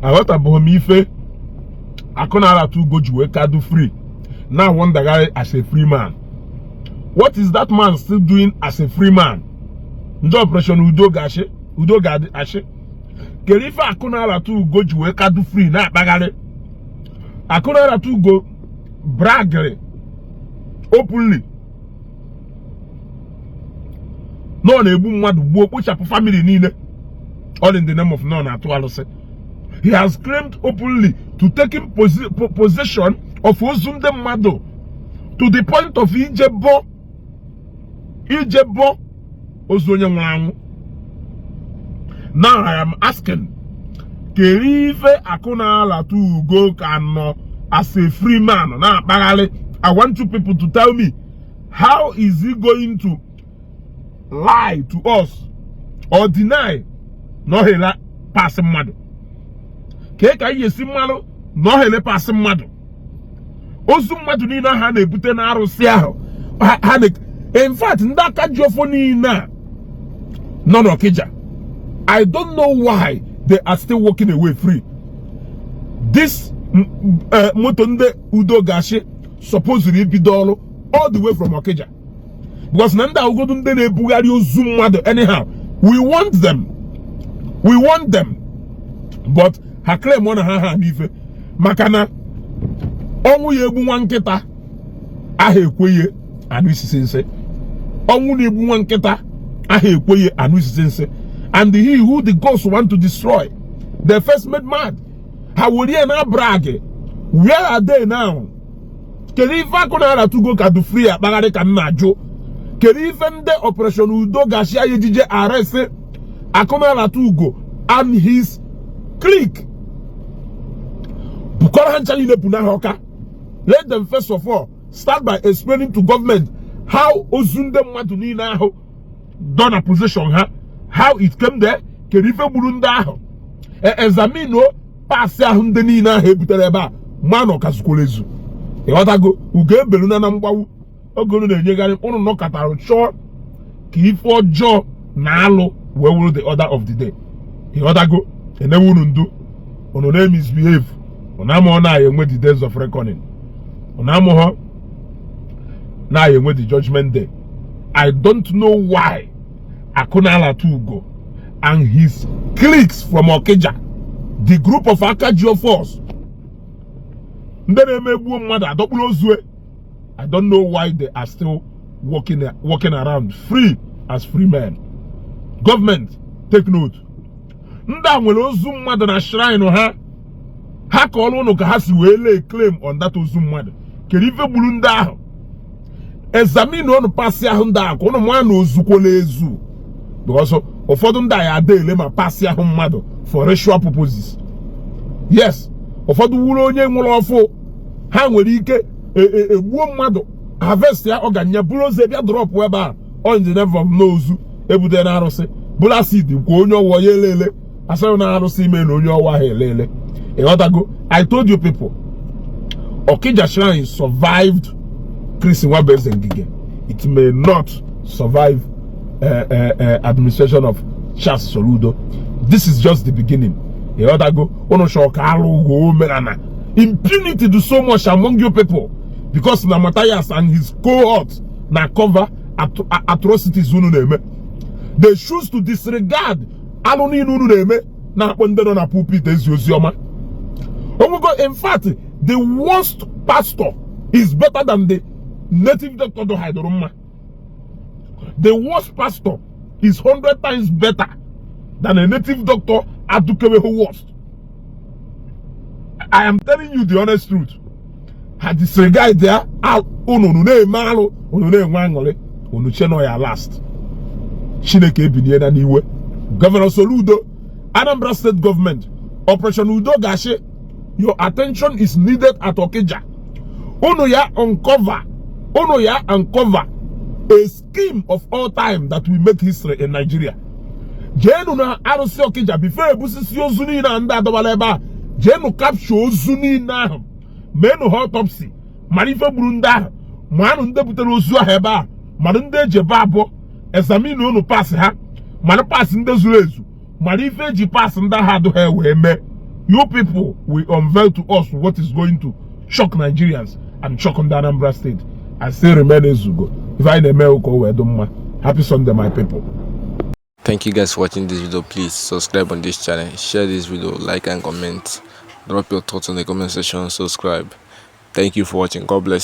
aghọtabeghị m ife akụ na-arata ugo ji wee ka dụ free na-awandagharị as a free man what is that man still doing as a free man ndị operation udo ga-achị udo ga-achị kedu ife akụ na-arata ugo ji wee ka dụ free na-akpagharị akụ na-arata ugo bragịrị openly na ọ na-egbu mmadụ gbuo kpochapụ family niile all in the name of na ọ na-atụ alụsị he has claimed openly to taking possession of ozu ndị mmadụ to the point of ije bọ ije bọ ozu onye nwụrụ anwụ now i am asking kere ife akụ na-alata ugo ka nọ as a free man na-akpagharị i want you people to tell me how is he going to lie to us or deny na ọ hị ele paasị mmadụ kee ka anyị ya-esi marụ na ọ hị ele paasị mmadụ ozu mmadụ niile ha na-ebute n'arụsị ahụ ha ha na in fact ndị aka ji ọfọ niile a nọ n'ọkịja i don't know why they are still walking away free this m- m- eh, moto ndị udo ga-achị supposiri ibido ọrụ all the way from Okija because na ndị a wụgodu ndị na-ebugharị ozu mmadụ anyhow we want them we want them but ha claim na ha ha n'ife maka na ọnwụ ya-egbu nwa nkịta aha ekwe ya anụ isisi nsị ọnwụ na-egbu nwa nkịta aha ekwe ya anụ isisi nsị and he who the gods want to destroy they first made mad ha werie na-abrag where are they now kedu ife akụ na-arata ugo ka dụ free akpagharị ka m na-ajụ kedu ife ndị operation udo ga-achị ya ejije arrest akụ na-arata ugo and his clique bukọrọ ha ncha niile kpụnaa ha ọka let them first of all start by explaining to government how ozu ndị mmadụ niile ahụ dụ na possession ha how it came there kedu ife gburu ndị ahụ e, examine paasị ahụ ndị niile ahụ ebutere ebe a ma na ọ ka zukwara ezu ịghọtago ugo ebeluna na mgbagbu oge unu na-enyegharị unu nọkọtara chọọ ka ife ọjọọ na alụ wee wụrụ the order of the day ịghọtago e nyewe unu ndụ unu na-emisbehave unu amaghọ na enwe the days of reckoning unu amaghọ na a ya-enwe the judgment day i don't know why akụ na-alata ugo and his cliques from okija the group of aka ji ọfọs ndị na-eme e gbuo mmadụ a dọkpụrụ ozu e i don't know why they are still walking, walking around free as free men government take note ndị a nwere ozu mmadụ na shrine ha ha kọọrọ ụnụ ka ha si wee lay claim on that ozu mmadụ kedu ife gburu ndị ahụ examine ụnụ parts ahụ ndị ahụ ka ụnụ ma na o zukwala ezu because ụfọdụ ndị a ya ada ele ma parts ahụ mmadụ for ritual purposes yes ụfọdụ wụrụ onye nwụrụ ọfụụ ha nwere ike egbuo e, e mmadụ harvestịa organ ya buru ozu bịa drọpụ ebe a on the name of n'ozu ebute na arụsị bụrụ asid kwa onye ọwụla ya elele a sịrị na arụsị ime na onye ọwụla ha elele ịghọtago i told you people Okija shrine survived Chris Nwabueze Ngige it may not survive uh, uh, uh, administration of Charles Soludo this is just the beginning ịghọtago ụnụ chọrọ ka alụghị omenala impunity dị so much among you people because na Matthias and his cohort na cover atrocities unu na-eme they choose to disregard alụ niile unu na-eme na-akpọ ndị nọ na pulpit ezi ozi ọma onwego in fact the worst pastor is better than the native doctor do haidoro mma the worst pastor is 100 times better than a native doctor adukeweho worst i am telling you the honest truth ha disregard ya unu unu na-eme alụ unu na-enwe aṅụrị unu che na ọ ya last chineke ebiniena n'iwe Governor Soludo Anambra State government Operation Udo ga-achị your attention is needed at Okija unu ya uncover unu ya uncover a scheme of all time that will make history in Nigeria jeenu na arụsị Okija before ebusisi ozu niile ahụ ndị a dọbala ebe ahụ jeenu capture ozu niile ahụ meenụ ha autopsy mara ife gburu ndị ahụ manụ ndị butere ozu ahụ ebe ahụ mara ndị e ji egbe gbuo examine unu parts ha mara parts ndị zuru ezu mara ife eji pass ndị agha adụ ha wee mee you people will unveil to us what is going to shock Nigerians and shock ndị Anambra State I still remain ezugo ife anyị na-eme ụka o wee dị mma happy Sunday my people Thank you guys for watching this video. Please subscribe on this channel, share this video, like and comment. Drop your thoughts in the comment section, subscribe. Thank you for watching. God bless.